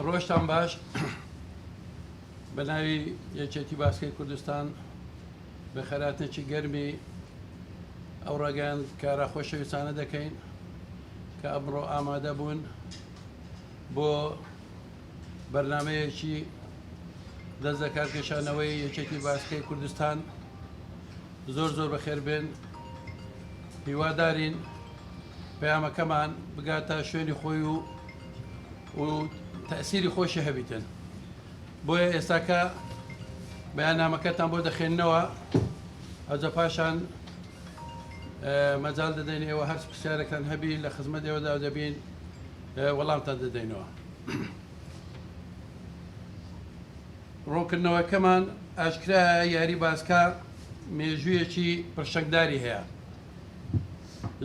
ڕۆژتان باش بە ناوی یەکێتی باسکەی کوردستان بە خەراتنێکی گەرمی ئەو ڕێگەیان کارە خۆشەویستانە دەکەین کە ئەمڕۆ ئامادە بوون بۆ بەرنمەیەکی دەست لە کارکێشانەوەی یەکێتی باسکەی کوردستان زۆر زۆر بەخێربێن هیوادارین پەیامەکەمان بگاتە شوێنی خۆی و و تەئسیری خۆشی هەبیتن بۆیە ئێستا کە بەیانامەکەتان بۆ دەخێننەوە ئەجا پاشان مەجال دەدەین ئێوە هەرچ پرسیارێکتان هەبی لە خزمەت ئێوەدا دەبین وەڵامتان دەدەینەوە ڕوونکردنەوەکەمان ئاشکرا یاری باسکە مێژوویەکی پرشنگداری هەیە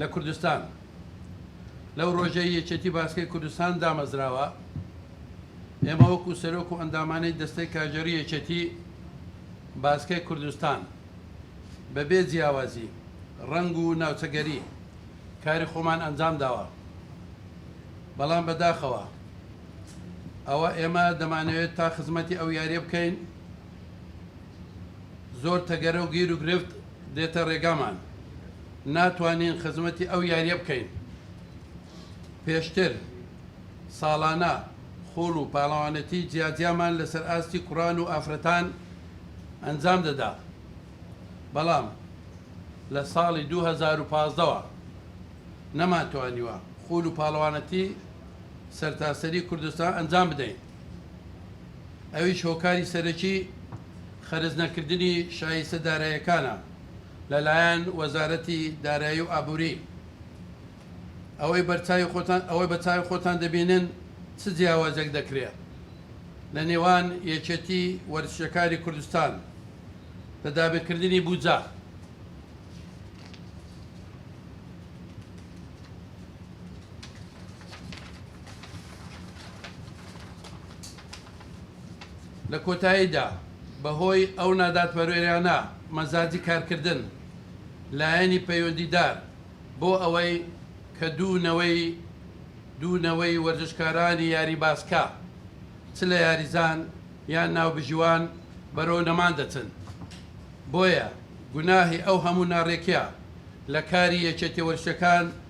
لە کوردستان لەو ڕۆژەی یەکێتی باسکەی کوردستان دامەزراوە ئێمە وەکو سەرۆک و ئەندامانی دەستەی کاژێری یەکێتی باسکەی کوردستان بەبێ جیاوازی ڕنگ و ناوچەگەری کاری خۆمان ئەنجام داوە بەڵام بەداخەوە ئەوە ئێمە دەمانەوێت تا خزمەتی ئەو یاریە بکەین زۆر تەگەرە و گیر و گرفت دێتە رێگامان ناتوانین خزمەتی ئەو یاریە بکەین پێشتر ساڵانە خوڵ و پاڵەوانێتی جیاجیامان لەسەر ئاستی کوڕان و ئافرەتان ئەنجام دەدا بەڵام لە ساڵی 2015ەوە نەمانتوانیوە خوول و پاڵەوانەتی سەرتاسەری کوردستان ئەنجام بدەین. ئەویش هۆکاری سەرەکی خەرج نەکردنی شایستە دارایەکانە لەلایەن وەزارەتی دارایی و ئابووری. ئەوەی بەرچاوی خۆتان ئەوەی بە چاوی خۆتان دەبینن چ جیاوازێک دەکرێت لە نێوان یەکێتی وەرزشەکانی کوردستان لە دابینکردنی بودجە؟ لە کۆتاییدا بەهۆی ئەو نادادپەروەریانە مەزاجی کارکردن لایەنی پەیوەندیدار بۆ ئەوەی کە دوو نەوەی دوو نەوەی وەرزشکارانی یاری باسکە چ لە یاریزان یان ناوبژیوان بەرەو نەمان دەچن بۆیە گوناهی ئەو هەموو ناڕێکیە لە کاری یەکێتیە وەرزشەکان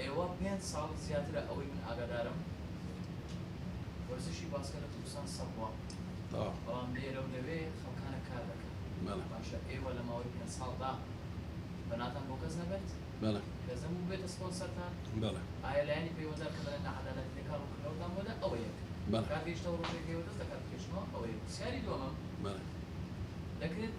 ئێوە پێنج ساڵ زیاترە ئەوەی من ئاگادارم وەرزشی باسکە لە کوردستان سەڕبووە بەڵام لێرە و لەوێ خەڵکانە کار دەکەن باشە ئێوە لە ماوەی پێنج ساڵدا بەناتان بۆ کەس نەبرد کەس نەبوو بێتە سپۆن سەرتان ئایا لایەنی پەیوەندار کە دەڵێن نەعەدالەتی لە کار و کردنەوەتان بۆدا ئەوە یەک کار گەیشتەوە ڕۆژێک ئێوە دەست لە کار بکێشنەوە ئەوە یەک پرسیاری دووەمم دەکرێت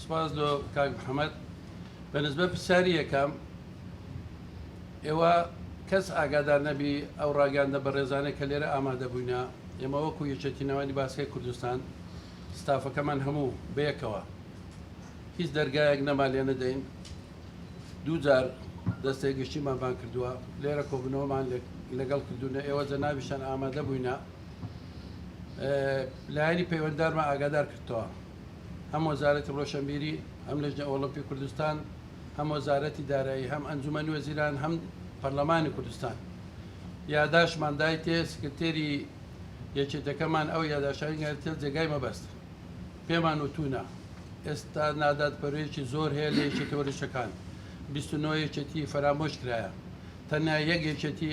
سپاس لۆ کاک محمد بە نسبەت پرسیاری یەکەم ئێوە کەس ئاگادار نەبی ئەو ڕاگەاندە بەڕێزانە کە لێرە ئامادە بووینە ئێمە وەکو یەکێتی ناوانی باسکەی کوردستان ستافەکەمان هەموو بەیەکەوە هیچ دەرگایەک نەما لێ نەدەین دوو جار دەستێک گشتیمان بان کردووە لێرە کۆبنەوەمان لەگەڵ کردوونە ئێوە جە ناویشان ئامادە بووینە لایەنی پەیوەنددارمە ئاگادار کردەوە هەم وەزارەتی ڕۆشەنبیری، هەم لەجنە ئۆڵۆمپی کوردستان، هەم وەزارەتی دارایی، هەم ئەنجومەنی وەزیران، هەم پەرلەمانی کوردستان یاداشمان دایتێ، سکرتێری یەکێتەکەمان ئەو یاداشتانەی ناردیتە جێگای مەبەست. پێمان وتوونە، ئێستا نادادپەروەریی زۆر هەیە لە یەکێتییە وەرزشەکان، بیست و نۆ یەکێتی فەرامۆش کرایە، تەنیا یەک یەکێتی،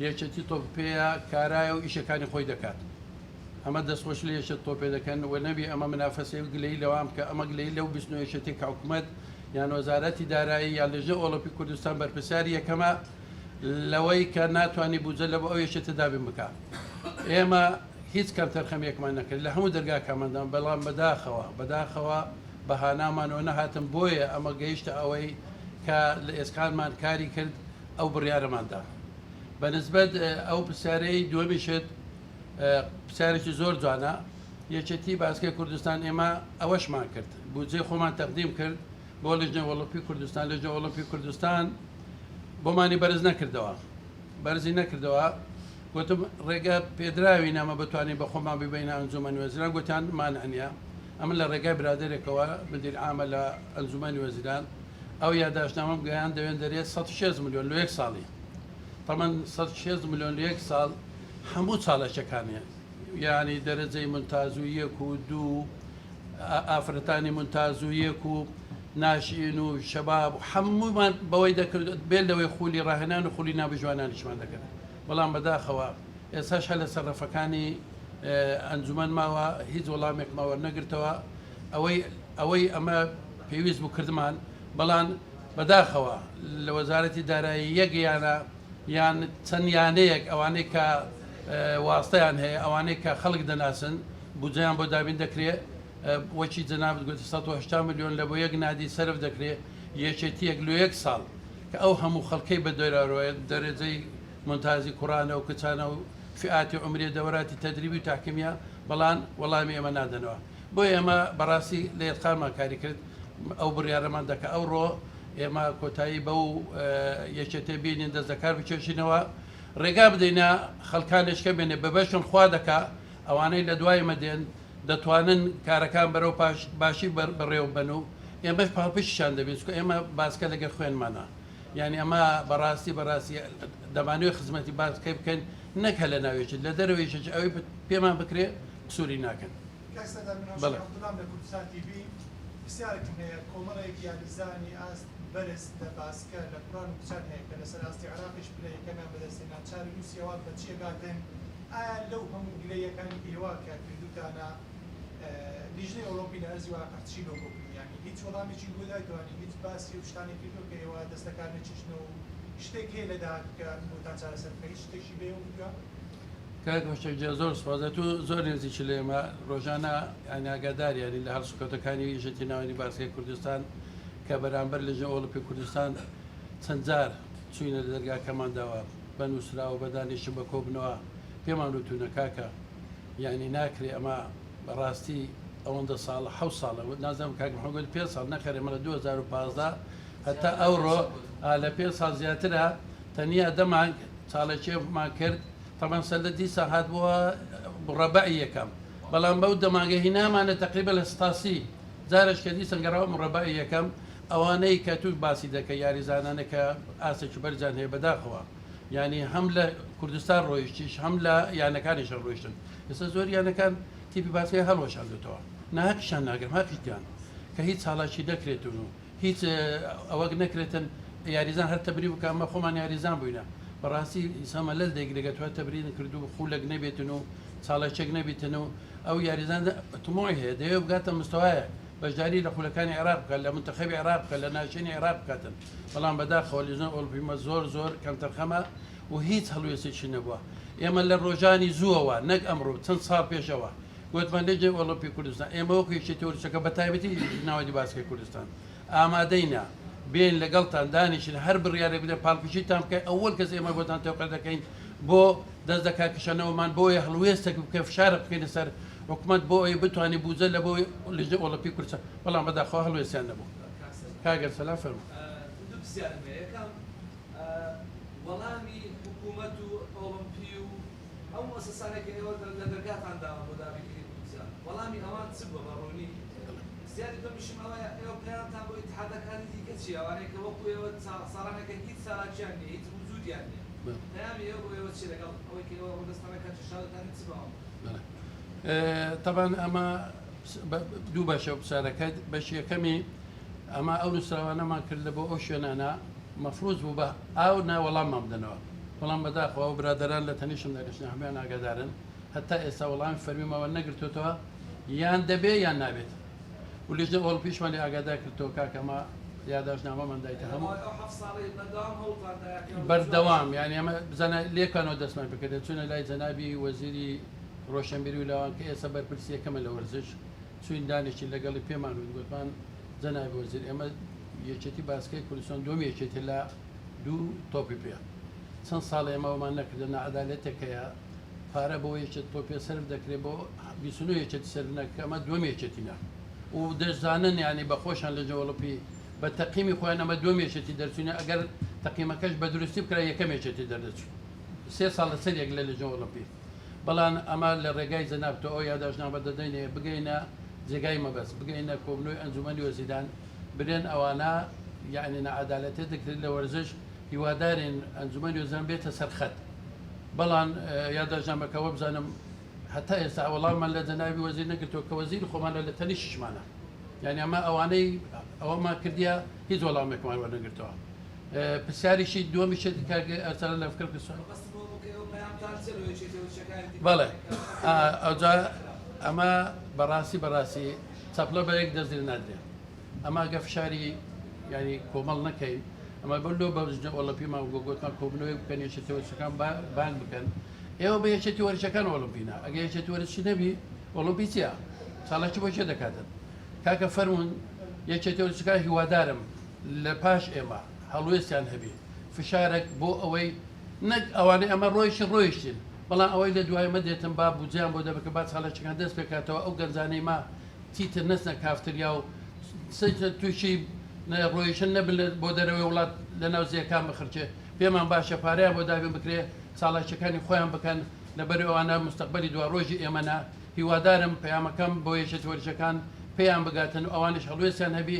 یەکێتی تۆپپێیە کارایە و ئیشەکانی خۆی دەکات. ئەمە دەست خۆش لەیەشت تۆپێ دەکەن وە نەبی ئەمە منافەسەی و گلەی لەوان بکە ئەمە گلەی لەو بیست نۆ یەشتەی کە حکومەت یان وەزارەتی دارایی یان لەژنە ئۆڵۆپی کوردستان بەرپرسیاری یەکەمە لەوەی کە ناتوانانی بودجە لە بۆ ئەو یەشتە دابین بکا ئێمە هیچ کەم تەرخەمیەکمان نەکرد لە هەموو دەرگاکاماندان بەڵام بەداخەوە بەداخەوە بەهانامانەوە نەهاتن بۆیە ئەمە گەیشتە ئەوەی کە لە ئێسقانمان کاری کرد ئەو بڕیارەماندا بەنسبەت ئەو پرسیارەی دووەمیشت پرسیارێکی زۆر جوانە یەکێتی باسکەی کوردستان ئێمە ئەوەشمان کرد بودجێ خۆمان تەقدیم کرد بۆ لژنە وەڵپی کوردستان لژنە وەڵپی کوردستان بۆمانی بەرز نەکردەوە بەرزی نەکردەوە گوتم ڕێگە پێدراوی نامە بتوانین بە خۆمان ببینە ئەنجومەنی وەزیران گوتیان مان ئەنیا ئەمە لە ڕێگای برادێکەوە مدیر ئامە لە ئەنجومەنی وەزیران ئەو یاداشتنامەم گەیان دەوێن دەرێت 16 میلیۆن لە یەک ساڵی تەمەن سەد و شێست ملیۆن و یەک ساڵ هەموو چالاکیەکان هەیە یعنی دەرەجەی منتاز و یەک و دوو ئافرەتانی منتاز و یەک و ناشئین و شەباب هەموومان بەوەی دەکرد بێن لەوەی خولی ڕاهێنان و خولی نابژوانانیشمان دەکرد بەڵام بەداخەوە ئێساش هە لە سەرڕەفەکانی ئەنجومەن ماوە هیچ وەڵامێک ماوە نەگرتەوە ئەوەی ئەوەی ئەمە پێویست بوو کردمان بەڵام بەداخەوە لە وەزارەتی دارایی یەک یانە یان چەند یانەیەک ئەوانەی کە واستەیان هەیە ئەوانەی کە خەڵک دەناسن بودجەیان بۆ دابین دەکرێ وەکی جەنابت گوتی سەد و هەشتا ملیۆن لە بۆ یەک نادی سەرف دەکرێ یەکێتیەک لۆ یەک ساڵ کە ئەو هەموو خەڵکەی بە دەرەوەیە دەرەجەی مونتازی کوڕانە و کچانە و فیئاتی عومریە دەوراتی تەدریبی و تاکمیە بەڵان وەڵامی ئێمە نادەنەوە بۆیە ئێمە بەڕاستی لە یەتقانمان کاری کرد ئەو بڕیارەمان دا کە ئەوڕۆ ئێمە کۆتایی بەو یەکێتێ بینین دەست لەکار بکێشینەوە ڕێگا بدەینە خەلکانێش کە بێنێ بەبەشن خوا دەکا ئەوانەی لە دوای مەدێن دەتوانن کارەکان بەرەو پاش باشی بەڕێو بەن و ئێمەش پاڵپشتیشان دەبین چکە ئێمە باسکە لەگەر خوێنمانە یعنی ئەمە بەڕاستی بەڕاستی دەمانوێت خزمەتی باسکەی بکەین نەک هەلە ناوێکی لە دەرەوەیشێکی ئەوەی پێمان بکرێ سووری ناکەن کاک سەردار مناڵ شێخ عەبدوڵام لە کوردستان تی ڤی پرسیارێکم هەیە کۆمەڵێک یاریزانی ئاست بەرز لە باسکە لە کوڕان و کچان هەیە کە لەسەر ئاستی عێراقیش پلە یەکەمیان بەدەست هێنا چاری نوسیەوە بە چی ئەگاتن ئایا لەو هەموو گلە یەکانی ئێوە کە کردوتانە لیژنەی ئۆڵۆمپی لە ئەرزی واقع چی لۆ گۆگلی یانی هیچ وەڵامێکی بۆ دایتەوە یانی هیچ باسی ئەو شتانەی کردوە کە ئێوە دەست لەکار نەچیشنەوە و شتێک هەیە لە داهاتوو کە بۆتان چارەسەر بکە هیچ شتێکی بەیەوە کردوە؟ کاک هۆشەک جیان زۆر سوپاس ئەتوو زۆر نێزیکی لە ئێمە ڕۆژانە یانی ئاگاداری یانی لە هەڵسوکەوتەکانی یەکێتی ناوەندی باسکەی کوردستان کە بەرامبەر لەژنە ئۆڵمپی کوردستان چەند جار چووینە لە دەرگاکەمانداوە بە نووسراوە بە دانیشتن بە کۆبنەوە پێمان وتوونە کاکە یانی ناکرێ ئەمە بەڕاستی ئەوەندە ساڵە حە ساڵە نازم کاک محەمەد پێ ساڵ نەخەرێ مەڵە 2015 هەتا ئەوڕۆ لە پێ ساڵ زیاترە تەنیا دەمانگ چاڵێکێفمان کرد تەبەن سەلە دیسا هات بۆ مڕەبەعی یەکەم بەڵام بەو دەماگە هینامانە تەقریبە لە ستاسی جارش کە دیسان گەڕاوە مڕەبەعی یەکەم ئەوانەی کە توش باسی دەکە یاریزانانە کە ئاسێکی بەرزیان هەیە بەداخەوە ینی هەم لە کوردستان ڕۆیشتیش هەم لە یانەکانیشە ڕۆیشتن ئێستا زۆر یانەکان تیپی باسکەی هەڵوەشاندوتەوە ناهەقیشان ناگرم هەقیان کە هیچ چاڵاکی دەکرێتون و هیچ ئەوەک نەکرێتن یاریزان هەر تەبری بکە ئەمە خۆمان یاریزان بووینە بەڕاستی ئینسانمە لەل دەیگرگە توە تەبرین کرد و خولەک نەبێتن و چاڵەچێک نەبیتن و ئەو یاریزان تمۆی هەیە دەیە بگاتە مستەوایە بەشداری لە خولەکانی عێراق بکە لە منتەخەبی عێراق بکە لە ناشێنی عێراق بکاتن بەڵام بەداخەوە لیزۆن ئۆلپیمە زۆر زۆر کەمتەرخەمە و هیچ هەڵوێستێکی نەبووە ئێمە لە ڕۆژانی زووەوە نەک ئەمڕۆ چەند ساڵ پێشەوە گوتمان لیگی ئۆڵۆمپی کوردستان ئێمە وەکو یەکێتی وەرزشەکە بەتایبەتی یەکێتی ناوەندی باسکەی کوردستان ئامادەین بێین لەگەڵتان دانیشین هەر بڕیارێک بدەن پاڵپشتیتان بکەین ئەوەل کەس ئێمە بۆتان تەوقە دەکەین بۆ دەست لە کارکشانەوەمان بۆیە هەڵوێستێک بکەین فشارە بکەینە سەر حکومت بۆ ئەوی بتوانین بوجە لە بۆ لیژنەی ئۆڵۆمپی کوردستان بەڵام بەداخەوە هەڵوێستیان نەبوو کاگەر سەلام فەرموو دوو پرسیارم هەیە یەکەم وەڵامی حکومەت و ئۆڵۆمپی و ئەو موسەسانەی کە ئێوە لە دەرگاتان داون بۆ دابینکردنی بودجە وەڵامی ئەوان چ بووە بە ڕوونی؟ پرسیاری دووەمیشم ئەوەیە ئێوە پلانتان بۆ ئیتحادەکانی دیکە چییە ئەوانەی کە وەکو ئێوە ساڕانێکن هیچ چالاکیان نییە هیچ وجودیان نییە پەیامی ئێوە بۆ ئێوە چییە لەگەڵ ئەوەی کە ئێوە ڕوودەستانە کاتی شاوتانە چ بە ئەوان بڵێن؟ تەبعەن ئەمە دوو بەشە پرسیارەکە بەشی یەکەمی ئەمە ئەو نووسراوانەمان کرد لە بۆ ئەو شوێنانە مەفروز بوو بە ئاو نا وەڵاممان بدەنەوە بەڵام بەداخەوە و برادران لە تەنیشم دەگەشتن هەمیان ئاگادارن هەتا ئێستا وەڵامی فەرمیمەوە نەگرتوتەوە یان دەبێ یان نابێت و لژنە ئۆڵپیشمان لە ئاگادار کردەوە کاکەمە یاداشنامەمان دایتە هەموو بەردەوام یان ئێمە بزانە لێکانەوە دەستمان پکردێت چونە لای جەنابی وەزیری ڕۆشنبیری و لاوان کە ئێستا بەرپرسی یەکەمە لە وەرزش، چویندانێکی لەگەڵی پێمان وت، گوتمان جەنابی وەزیر ئێمە یەکێتی باسکەی کوردستان دووەم یەکێتیە لە دوو تۆپی پێ، چەند ساڵە ئێمە ئەوەمان نەکردووە، ناعەدالەتێک هەیە، پارە بۆ یەکێتی تۆپی پێ سەرف دەکرێت بۆ بیست و نۆ یەکێتی سەرف ناکرێت، ئەمە دووەم یەکێتینە و دەشزانن یانی بە خۆشیان لە جەوڵپی بە تەقیمی خۆیان ئەمە دووەم یەکێتی دەرچوینە، ئەگەر تەقیمەکەش بە دروستی بکرا یەکەم یەکێتی دەردەچوو سێ ساڵ لەسەر یەک لە لەجنە ئۆڵەمپی. بەڵام ئەمە لە ڕێگای جەناب تۆ ئەو یاداشتنامە دەدەینێ بگەینە جێگای مەبەست بگەینە کۆبنەوەی ئەنجومەنی وەزیران برێن ئەوانە یعنی نەعەدالەتێ دەکرێت لە وەرزش هیوادارین ئەنجومەنی وەزیران بێتە سەرخەت بەڵام یاداشتنامەکە وەبزانم هەتا ئێستا وەڵامان لە جەنابی وەزیر نەگرتووە کە وەزیر خۆمانە لە تەنیشتمانە یعنی ئەمە ئەوانەی ئەوەمان کردیە هیچ وەڵامێکمان وەرنەگرتووە پرسیاریی دووەمی شێتی کاک ئەرسەلان لە فکرم کە سوال بەڵێ ئەوجا ئەمە بەڕاستی بەڕاستی چەپڵە بە یەک دەست لێ نادرێ ئەمە گە فشاری ینی کۆمەڵ نەکەین ئەمە بەر لۆ بەژنە ئۆلمپیمان گۆ گوتمان کۆبنەوەی بکەن یەشێتی وەرچەکان بانگ بکەن ئێوە بە یەشێتی وەرچەکان ئۆلمپینا ئەگە یەشێتی وەرچی نەبی ئۆلمپی چیە ساڵەکی بۆ چێ دەکاتن کاکە فەرمونون یەکێتی وەرچەکان هیوادارم لە پاش ئێمە هەڵوێستیان هەبێ فشارەک بۆ ئەوەی نەک ئەوانەی ئەمە ڕۆیشتن ڕۆیشتن بەڵام ئەوەی لە دوای مە دێتن با بودجیان بۆ دەبکە با چاڵێکەکان دەست پێکاتەوە ئەو گەنجانەی ما چیتر نەچنە کافتریا و تووشی ڕۆیشن نەبن بۆ دەرەوەی وڵات لە ناو زیەکان بخرچێ پێمان باشە پارەیان بۆ دابین بکرێ چاڵاکیەکانی خۆیان بکەن لەبەر ئەوانە مستقبلی دو ڕۆژی ئێمەە هیوادارم پەیامەکەم بۆ یەکێتی وەرجەکان پێیان بگاتن و ئەوانش هەڵوێستیان هەبی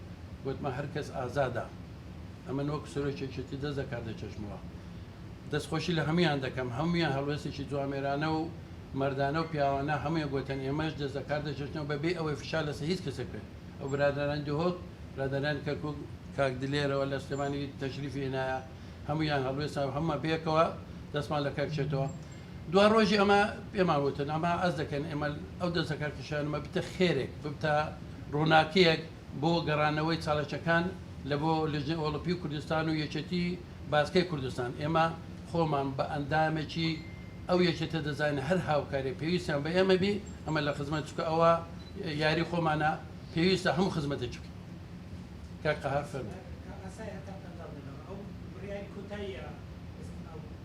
گوتمە هەر کەس ئازادە ئەمن وەک سرۆکێکێتی دەست لە کار دەکێشمەوە دەستخۆشی لە هەمویان دەکەم هەمویان هەڵوێستێکی جوامێرانە و مردانە و پیاوانە هەمویان گوتن ئێمەش دەست لە کار دەکێشنەوە بەبێ ئەوەی فشا لەسە هیچ کەسێک بێت ئەو برادران دهۆک برادران کەرکک کاک دلێرەوە لە سلێمانی تەشریفی هێنایە هەمویان هەڵوێستا هەمە بێکەوە دەستمان لە کارکێتەوە دوا ڕۆژی ئەمە پێمان وتن ئەمە ئەز دەکەن ئێمە ئەو دەستەکە کشانمە بتە خێرێک ببتە ڕووناکیەک بۆ گەڕانەوەی چاڵەچەکان لە بۆ لژنی ئۆڵپی و کوردستان و یەکێتی باسکەی کوردستان ئێمە خۆمان بە ئەندامێکی ئەو یەکێتە دەزانین هەر هاوکاری پێویستیان بە ئێمە بی ئەمە لە خزمەت چکە ئەوە یاری خۆمانە پێویستە هەموو خزمەتێکی بکەین کاک قەهار فەرموو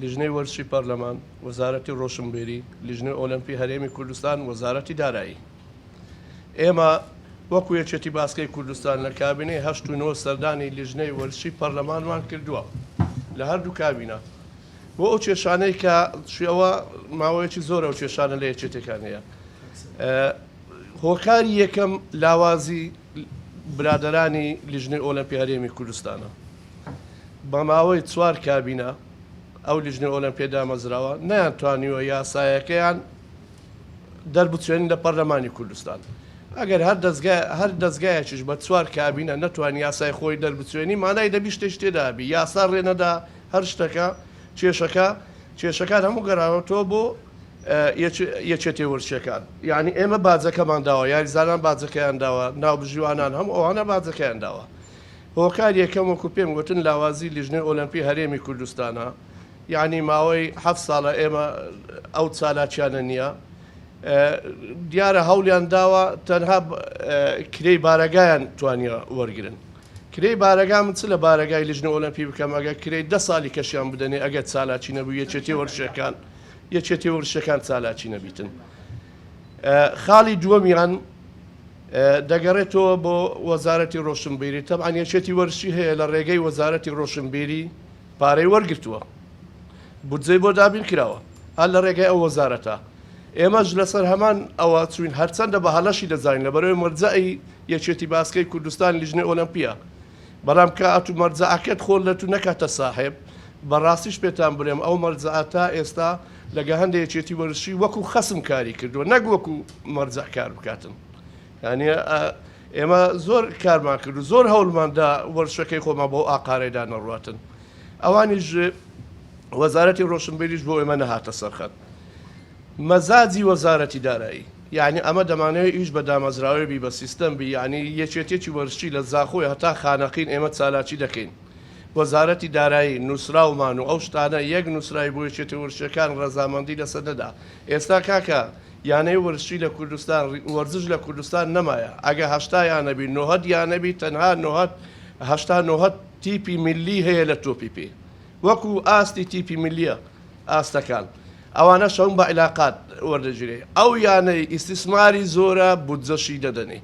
لیژنەی وەرزشی پەرلەمان، وەزارەتی ڕۆشنبیری، لیژنەی ئۆلەمپی هەرێمی کوردستان، وەزارەتی دارایی. ئێمە وەکو یەکێتی باسکەی کوردستان لە کابینەی هەشت و نۆ سەردانی لیژنەی وەرزشی پەرلەمانمان کردووە لە هەردوو کابینە بۆ ئەو کێشانەی کە شێوە ماوەیەکی زۆر ئەو کێشانە لە یەکێتەکان هەیە هۆکاری یەکەم لاوازی برادەرانی لیژنەی ئۆلەمپی هەرێمی کوردستانە بە ماوەی چوار کابینە ئەو لیژنە ئۆلەمپیە دامەزراوە نیان توانیوە یاسایەکەیان دەربچێن لە پەرلەمانی کوردستان ئەگەر هەر دەستگای هەر دەستگایەکیش بە چوار کابینە نەتوان یاسای خۆی دەربچێنی مانای دەبی شتێک تێدابی یاسا ڕێنەدا هەر شتەکە کێشەکە کێشەکان هەموو گەڕاوەتەوە بۆ یەکێتیە ورچیەکان یانی ئێمە باجەکەمان داوە یاریزانان باجەکەیان داوە ناوبژیوانان هەموو ئەوانە باجەکەیان داوە هۆکار یەکەم وەکو پێم گوتن لاوازی لیژنەی ئۆلمپی هەرێمی کوردستانە یعنی ماوەی ه ساڵە ئێمە ئەو چالاکیانە نییە دیارە هەولیان داوە تەنها کرێی بارەگایان توانیە وەرگن کرێی بارەگا من چ لە بارەگای لیژنە ئۆلمپی بکەم ئەگە کرێی ده ساڵی کەشیان بدەنێ ئەگەر چالاکی نەبوو یەکێتی وەرشەکان. یەکێتی ورشەکان چالاکی نەبیتن خاڵی دووەمیان دەگەڕێتەوە بۆ وەزارەتی ڕۆشنبیری تەبان یەکێتی وەرشی هەیە لە ڕێگەی وەزارەتی ڕۆشنبیری پارەی وەرگتووە بودجەی بۆ دابین کراوە هەر لە ڕێگەی ئەو وەزارەتە ئێمەش لەسەر هەمان ئەوە چوین هەرچەندە بە هەلەشی دەزانین لە بەرەوەی مەرجەعی یەکێتی باسکەی کوردستان لیژنە ئۆلمپیا بەڵام کە ئەتوو مەرجەعەکەت خۆ لە تو نەکاتە ساحێب، بە ڕاستیش پێتان بڵێم ئەو مەرجەعە تا ئێستا لە گەهەندە یەکێتی وەرزشی وەکوو خەسم کاری کردووە نەک وەکوو مەرجەع کار بکاتن. یانی ئێمە زۆر کارمان کرد و زۆر هەوڵمان دا وەرزشەکەی خۆمان بەو ئاقارەیدا نەڕواتن. ئەوانیش وەزارەتی ڕۆشنبیریش بۆ ئێمە نەهاتە سەرخەت. مەزاجی وەزارەتی دارایی یانی ئەمە دەمانەوێ ئیش بە دامەزراوەێ بی بە سیستەم بی یانی یەکێتیەکی وەرزشی لە زاخۆی هەتا خانەقین ئێمە چالاکی دەکەین وەزارەتی دارایی نوسراومان و ئەو شتانە یەک نوسراوی بۆ یەکێتی وەرزشەکان ڕەزامەندی لەسەر نەدا ئێستا کاکە یانەی وەرزشی لە کوردستان وەرزش لە کوردستان نەمایە ئەگە هەشتا یانە بی نۆهەد یانە بی تەنها نۆهەد هەشتا نۆهەد تیپی ملی هەیە لە تۆپی پێ وەکو ئاستی تیپی ملیە ئاستەکان ئەوانە شەون بە علاقات وەردەگیرێ ئەو یانەی ئیستیسماری زۆرە بودجەشی دەدەنێ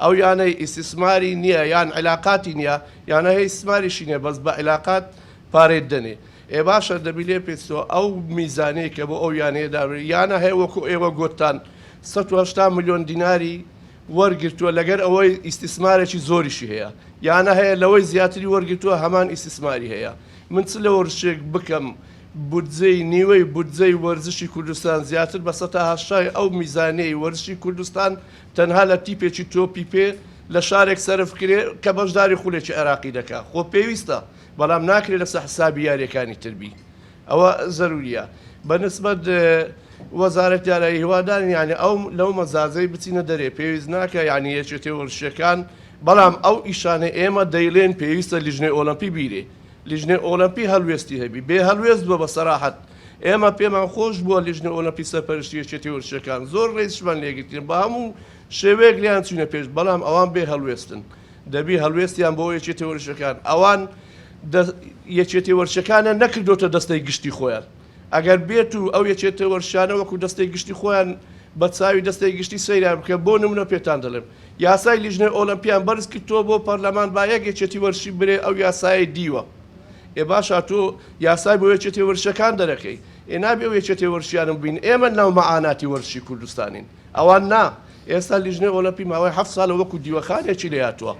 ئەو یانەی ئیستیسماری نییە یان علاقاتی نییە یانە هەی ئیستیسماریشی نییە بەس بە علاقات پارەی دەنێ ئێ باشە دەبی لێ پێچتەوە ئەو میزانەیە کە بۆ ئەو یانەیە دابێ یانە هەیە وەکو ئێوە گۆتتان سەد و هەشتا ملیۆن دیناری وەرگرتووە لەگەر ئەوەی ئیستیسمارێکی زۆریشی هەیە یانە هەیە لەوەی زیاتری وەرگرتووە هەمان ئیستیسماری هەیە من چ لەوەرشێک بکەم بودجەی نیوەی بودجەی وەرزشی کوردستان زیاتر بە سەتا هەشتای ئەو میزانیەی وەرزشی کوردستان تەنها لە تیپێکی تۆپی پێ لە شارێک سەرف کرێ کە بەشداری خولێکی عێراقی دەکا خۆ پێویستە بەڵام ناکرێ لەسە حسابی یاریەکانی تر بی ئەوە زەرووریە بە نسبەت وەزارەت دارایی هیوادارین یعنی ئەو لەو مەزازەی بچینە دەرێ پێویست ناکە یعنی یەکێتی وەرشەکان بەڵام ئەو ئیشانە ئێمە دەیڵێن پێویستە لیژنەی ئۆلمپی بیرێ لیژنەی ئۆلمپی هەلوێستی هەبی بێ هەلوێست بووە بە سەراحەت ئێمە پێمان خۆش بووە لیژنە ئۆلمپی سەرپەرشتی یەکێتی وەرشەکان زۆر ڕێزشمان لێگرتن بە هەموو شێوەیەک لیان چوینە پێش بەڵام ئەوان بێ هەلوێستن دەبی هەڵوێستیان بۆ یەکێتیە وەرزشەکان ئەوان دە یەکێتی وەرزشەکانە نەکردۆتە دەستەی گشتی خۆیان ئەگەر بێت و ئەو یەکێتە وەرشانە وەکو دەستەی گشتی خۆیان بە چاوی دەستەی گشتی سەیران بکە بۆ نمونە پێتان دەڵێم یاسای لیژنەی ئۆلمپیان بەرز کرد تۆ بۆ پەرلەمان با یەک یەکێتی وەرشی برێ ئەو یاسای دیوە ئێ باشە تۆ یاسای بۆ یەکێتی وەرشەکان دەرەکەی ئێ نابێ و یەکێتی وەرشیانم بین ئێمە ناو مەعاناتی وەرشی کوردستانین ئەوان نا، ئێستا لیژنەی ئۆلەمپی ماوەی هەفت سالە وەکو دیوەخانێکی لێهاتووە،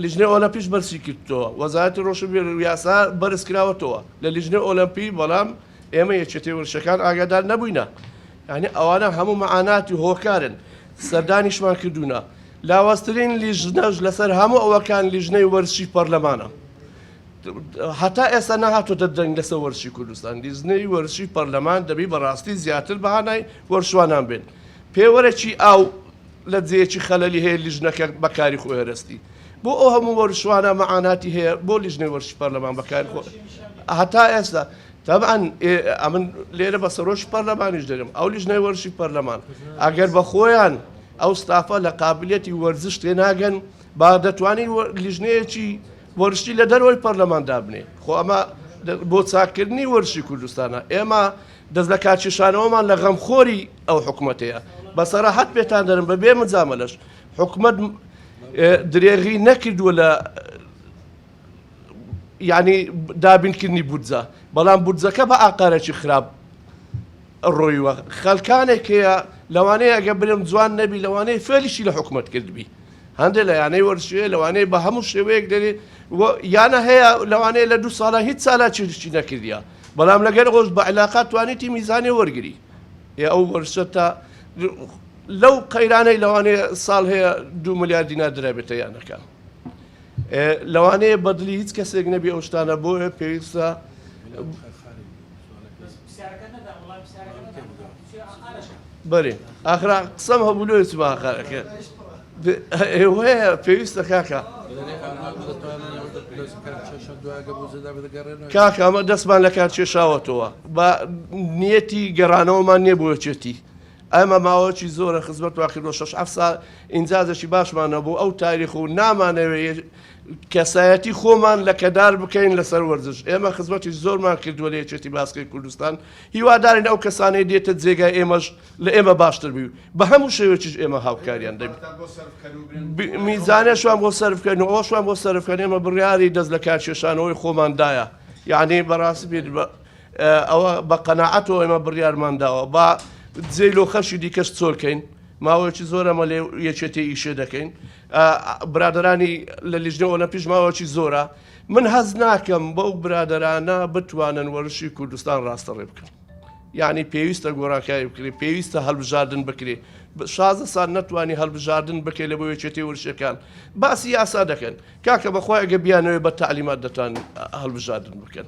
لیژنەی ئۆلەمپیش بەرزی کردووە، وەزارەتی رۆشنبیری و یاسا بەرزکراوەتەوە لە لیژنەی ئۆلەمپی، بەڵام ئێمە یەکێتی وەرزشەکان ئاگادار نەبووینە، یانی ئەوانە هەموو مەعانات و هۆکارن سەردانیشمان کردوونە، لاوازترین لیژنەش لەسەر هەموو ئەوەکان لیژنەی وەرزشی پەرلەمانە، هەتا ئێستا نەهاتۆتە دەنگ لەسەر وەرزشی کوردستان، لیژنەی وەرزشی پەرلەمان دەبی بەڕاستی زیاتر بەهانای وەرشوانان بێت. پێوەرەکی ئاو لە جێیەکی خەلەلی هەیە لیژنەکە بەکاری خۆی هەرەستی. بۆ ئەو هەموو وەرشوانە مەعاناتی هەیە بۆ لیژنەی وەرزشی پەرلەمان بەکاری خۆ هەتا ئێستا تەبعەن ئەمن لێرە بە سەرۆکی پەرلەمانیش دەرم ئەو لیژنەی وەرزشی پەرلەمان ئەگەر بە خۆیان ئەو ستافە لە قابلیەتی وەرزش تێناگەن با دەتوانین لیژنەیەکی وەرشی لە دەرەوەی پەرلەمان دابنێ خۆ ئەمە بۆ چاککردنی وەرشی کوردستانە ئێمە دەست لە کارکێشانەوەمان لە غەمخۆری ئەو حکوومەتەیە بە سەراحەت پێتان دەرم بە بێ مجامەلەش حکومت درێغی نەکردووە لە یعنی دابینکردنی بودجە بەڵام بودجەکە بە ئاقارێکی خراپ ڕۆیوە خەلکانێک هەیە لەوانەیە ئەگە برم جوان نەبی لەوانەیە فێلیشی لە حکوومەت کردبی هەندێ لە یانەی وەرزشیە لەوانەیە بە هەموو شێوەیەک دەێ یانە هەیە لەوانەیە لە دوو ساڵە هیچ سالا چیرشی نەکردە بەڵام لەگەر ڕۆژ بە علااقات توانی تیمی زانێ وەرگری یا ئەو وەرشە تا لەو قەیرانەی لەوانەیە ساڵ هەیە دو ملیار دینا درابێتە یانەکە لەوانەیە بەدلی هیچ کەسێک نەبی ئەو شتانە بۆیە پێویستە بەری ئاخرا قسەم هەبوو لۆ چوومە هاخارەکە ئێوەیە پێویستە کاکە کاکە ئەمە دەستمان لە کار کێشاوەتەوە بە نیەتی گەڕانەوەمان نییە بۆچێتی ئەمە ماوەکی زۆرە خزمەت واکردۆ شش ح سا ئینجازەکی باشمانە بۆ ئەو تاریخ و نامانەوێت کەسایەتی خۆمان لەکەدار بکەین لەسەر وەرزش، ئێمە خزمەتی زۆرمان کردووە لە یەکێتی باسکەی کوردستان، هیوادارین ئەو کەسانەی دێتە جێگای ئێمەش لە ئێمە باشتر بی و بە هەموو شێوەیەکیش ئێمە هاوکاریان دەبین، میزانیشمان بۆ سەرف بکەن و ئەوەشمان بۆ سەرف بکەن، ئێمە بڕیاری دەست لەکارکێشانەوەی خۆمان دایە، یەعنی بەڕاستی پێت بە ئەوە بە قەناعەتەوە ئێمە بڕیارمان داوە، با جێی لۆ خەڵکی دیکەش چۆلکەین، ماوەیەکی زۆرە ئەمە لە یەکێتی ئیشێ دەکەین، برادەرانی لە لیژنەی ئۆلەمپیش ماوەکی زۆرە، من هەست ناکەم بەو برادەرانە بتوانن وەرزشی کوردستان ڕاستەڕێ بکەن. یانی پێویستە گۆرانکاری بکرێ پێویستە هەلبژاردن بکرێ شازە سان نەتوانانی هەلبژاردن بکەی لە بۆ یەکێتی ورشەکان باسی یاسا دەکەن کاکە بەخوای گە بیانەوەی بە تعلیمات دەتان هەلبژاردن بکەن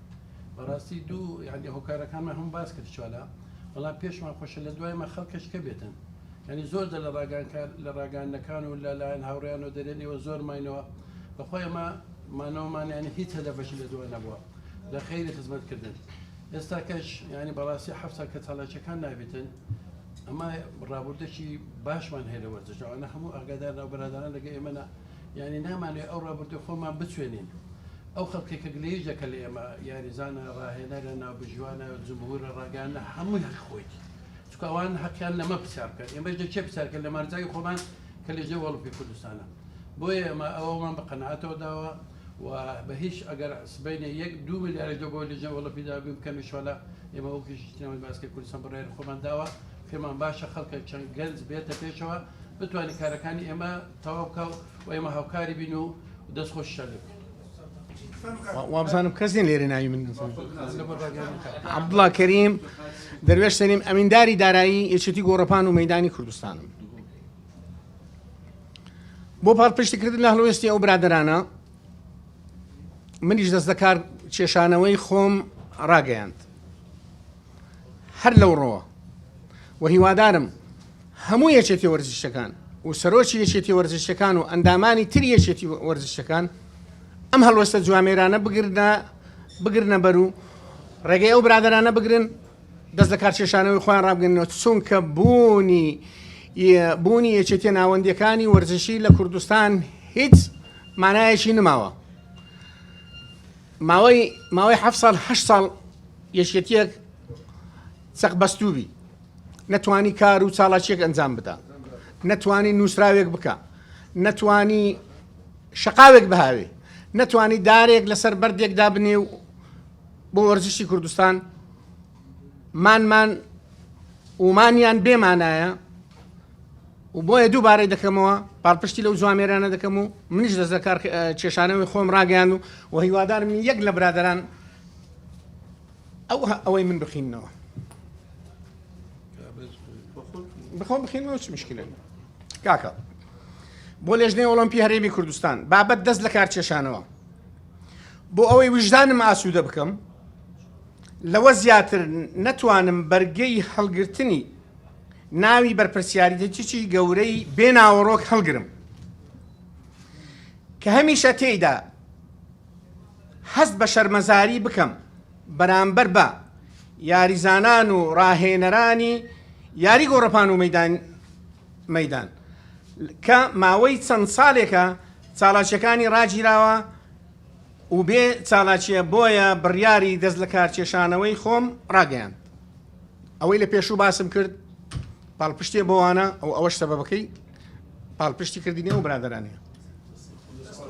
بەڕاستی دوو یعنی هۆکارەکانمە هەم باس کرد چوالا بەڵام پێشمان خۆشە لە دوایمە خەڵکەش کە بێتن ینی زۆر دە لە ڕاگانکار لە ڕاگەاندەکان و لەلایەن هاوڕیان و دەرێن ئێوە زۆر ماینەوە بەخۆی ئەمە مانەوەمانیانی هیچ هەدەفەشی لە دوای نەبووە لە خەیری خزمەتکردن ئێستا کەش ینی بەڕاستی حەفسا کە چاڵاچەکان نابێتن ئەمە ڕابردەکی باشمان هەیە لە وەرزشەوانە هەموو ئاگادار ناو برادران لەگە ئێمەە یانی نامانەوێت ئەو ڕابردووی خۆمان بچوێنین. ئەو خەڵکەی کە گلەییش دەکەن لە ئێمە، یاریزانە، ڕاهێنەرە، ناوبژیوانە، جمهوورە، ڕاگەیاندنە، هەمووی هەقی خۆیەتی. چونکە ئەوان هەقیان لەمە پرسیار بکەن. ئێمەش دەبێت چێ پرسیار بکەین؟ لە مارزاوی خۆمان کە لێژنەی ئۆڵۆمپی کوردستانە. بۆیە ئێمە ئەوەمان بە قەناعەتەوە داوە و بە هیچ ئەگەر سبەینێ یەک، دوو ملیاریش لە بۆ لێژنەی ئۆڵۆمپی دابین بکەن ان شاءاللە ئێمە وەکوو لێژنەی سینەمای باسکەی کوردستان بڕیاری خۆمان داوە. پێمان باشە خەڵکە چەند گەنج بێتە پێشەوە بتوانێت کارەکانی ئێمە، تەواو بکە و ئێمە هاوکاری بین و دەست خۆشیشان لێ بکەین. وابزانم کەس نین لێرە ناوی من عبدڵا کەریم دەروێش سەریم ئەمینداری دارایی یەکێتی گۆڕەپان و مەدانی کوردستانم بۆ پاڵپشتکردن لە هەڵوێستی ئەو برادرانە منیش دەست دەکار کێشانەوەی خۆم ڕاگەیاند هەر لەو ڕۆوە و هیوادارم هەموو یەکێتی وەرزشەکان و سەرۆکی یەکێتی وەرزشەکان و ئەندامانی تر یەکێتی وەرزشەکان ئەم هەڵوەستە جوامێرانە بگرنە بگرنە بەر و ڕێگەی ئەو برادرانە بگرن دەست لە کارچێشانەوەی خۆیان ڕابگەنەوە چونکە بوونی بوونی یەکێتە ناوەندەکانی وەرزشی لە کوردستان هیچ مانایەکی نماوە ماوەی ماوەی حەفت ساڵ هەشت ساڵ یەکێتیەک چەق بەستووبی نەتوانی کار و چاڵاچیەک ئەنجام بدا نەتوانی نووسراوێک بکە نەتوانی شقاوێک بهاوێ نەتوانی دارێک لەسەر بەردێک دابنێ و بۆ وەرزشی کوردستان مانمان ومانیان بێمانایە و بۆیە دووبارەی دەکەمەوە پاڵپشتی لەو جوامێرانە دەکەم و منیش دەست لەکار کێشانەوەی خۆم ڕاگەیاند و و هیوادارم یەک لە برادەران ئەو ئەوەی من بخینەوە بخۆ بخینەوە چ مشکلێن کاکە بۆ لێژنەی ئۆلمپی هەرێمی کوردستان بابەت دەست لە کار کێشانەوە بۆ ئەوەی وژدانم ئاسوودە بکەم لەوە زیاتر نەتوانم بەرگەی هەڵگرتنی ناوی بەرپرسیاریتەچی گەورەی بێ ناوەڕۆک هەڵگرم کە هەمیشە تێیدا هەست بە شەرمەزاری بکەم بەرامبەر بە یاریزانان و ڕاهێنەرانی یاری گۆڕەپان و مەدان مەدان کە ماوەی چەند ساڵێکە چاڵاچەکانی ڕاگیراوە و بێ چالاکییە بۆیە بڕیاری دەست لەکارکێشانەوەی خۆم ڕاگەیاند ئەوەی لە پێشوو باسم کرد پاڵپشتێ بۆوانە ئەو ئەوەش سەبەکەی پاڵپشتی کردنی ئەو برادرانە.